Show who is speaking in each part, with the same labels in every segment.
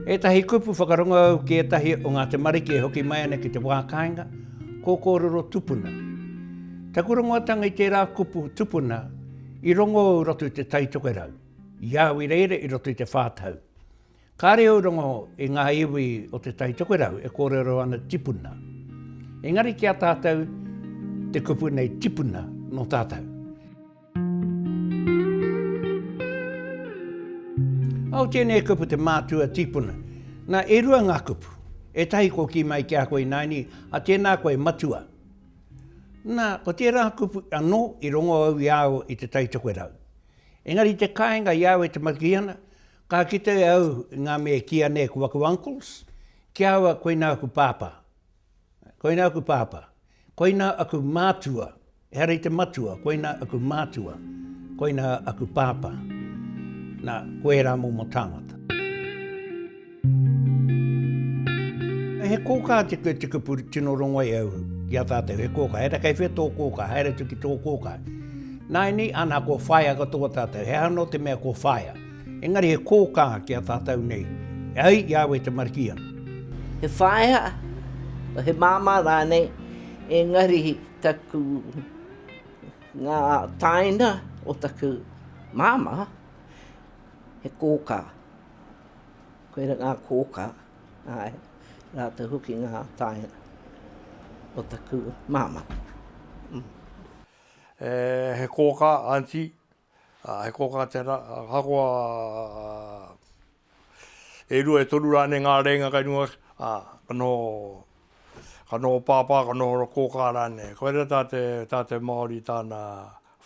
Speaker 1: Ētahi kupu whakarongou ki ētahi o ngā tamariki e hoki mai ana ki te wā kāinga, ko kōrero tupuna. Taku rongoatanga i tērā kupu tupuna i rongo au i roto i te taitokerau, i au i reira i roto i te whā tau. Kāre au rongo i ngā iwi o Te Tai Tokerau e kōrero ana tipuna. Engari ki a tātou, te kupu nei tipuna nō tātou. Au tēnei kupu te mātua tipuna. Nā, e rua ngā kupu. Ētahi kua kī mai ki a koe ināini, a tēnā koe matua. Nā, ko tērā kupu anō i rongo au i a au i Te Tai Tokerau. Engari te kāinga i a au e te maki ana, Ka kite au i ngā mea e kīia nei ko aku uncles, ki a au koinā aku pāpā. Koinā aku pāpā. Koinā aku mātua, ehara i te matua, koinā aku mātua, koinā aku pāpā. Nā, ko ērā momo tāngata. He kōkā te kupu tino rongo ai au ki a tātou, he kōkā. Ehara kei whea tō kōkā, haere atu ki tō kōkā. Nāinī, āna, ko whaea katoa tātou. He aha anō te mea ko whaea? Engari he kōkā ki a tātou nei, e ai ki a au e te Marikīana. He whaea,
Speaker 2: he māmā rānei, engari taku, ngā tāina o taku māmā, he kōkā. Koirā ngā kōkā, āe, rātou hoki ngā tāina o taku māmā.
Speaker 3: He kōkā, Aunty, ā, he kōkā tērā, ahakoa e rua, e toru rānei ngā rēinga kei runga, ā, ka noho, ka noho pāpā, ka noho kōkā rānei. Koirā tā te, tā te Māori tāna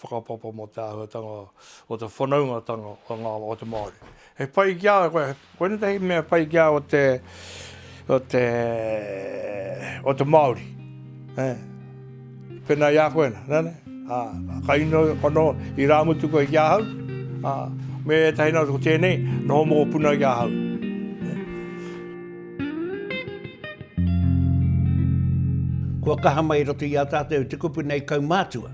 Speaker 3: whakapapa mō te āhuatanga o te whanaungatanga o ngā, o te Māori. He pai ki a koe, koinei tētahi mea pai ki a o te, o te, o te Māori. He, pēnā i a koe, nē, nē, ā, ka ino whano i rāmutu koe ki ahau, ā, me ētahi nā tō tēnei, noho mōpuna ki ahau.
Speaker 1: Kua kaha mai i roto i a tātou te kupu nei kaumātua.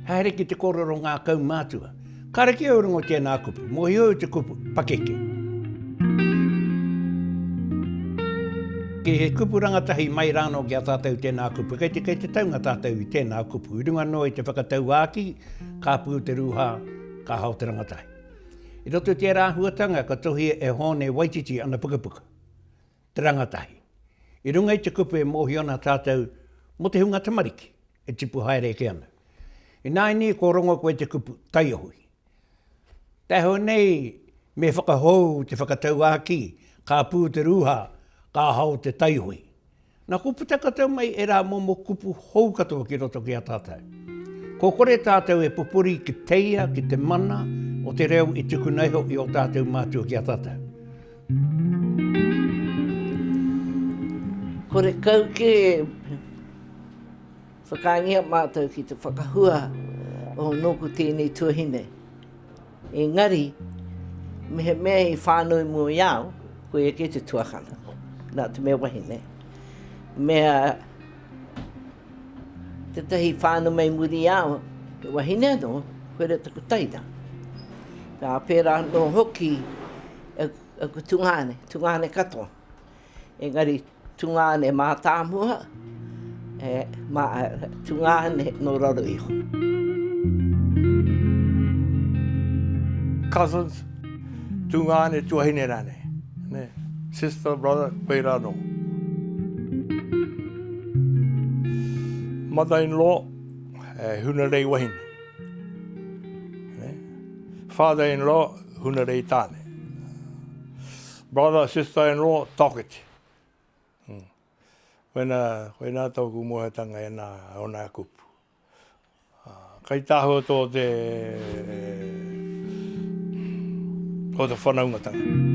Speaker 1: Haere ki te kōrero ngā kaumātua. Kareke au rongo tēnā kupu. Mohio au te kupu, pakeke. Kei he kupu rangatahi mai rāno ki a tātou tēnā kupu. Kei te, kei te taunga tātou i tēnā kupu. I runga noa i te whakatauākī, ka pū te rūhā, ka hao te rangatahi. I roto i tērā āhuatanga ka tohia e Hōne Waititi ana pukapuka, te rangatahi. I runga i te kupu e mōhio ana tātou mō te hunga tamariki. e tipu haere ake ana. Ināianei kua rongo koe i te kupu taiohi. Taihoa nei me whakahou te whakatauākī, ka pū te rūhā, ka hao te taiohi. Na, kua puta katoa mai ērā momo kupu hou katoa ki roto ki a tātou. Kua kore tātou e pupuri ki te ia, ki te mana o te reo i tukuna iho i ō tātou mātua ki a tātou.
Speaker 2: Kore kau kē e whakaangia mātou ki te whakahua o nōku tēnei tuahine. Engari, mehemea i whānui mua i a au, koia kē te tuakana, nā te mea wahine. Mea tētahi whānau mei muri i a au, he wahine anō, koirā taku teina. Ā, pērā anō hoki e ko tungāne, tungāne katoa. Engari tungāne mātāmua, e, mā, tungāne nō raro iho.
Speaker 3: Cousins, tungāne tuahine rānei. Ne? Sister, brother, koe rā nō. Mother-in-law, e, huna rei wahine. Ne? Father-in-law, Hunarei Tāne. Brother, sister in law, Tawhiti. Koina, koina tōku moeatanga e nā, e ona e kupu. Kai tāhua tō te, tō te whanaungatanga.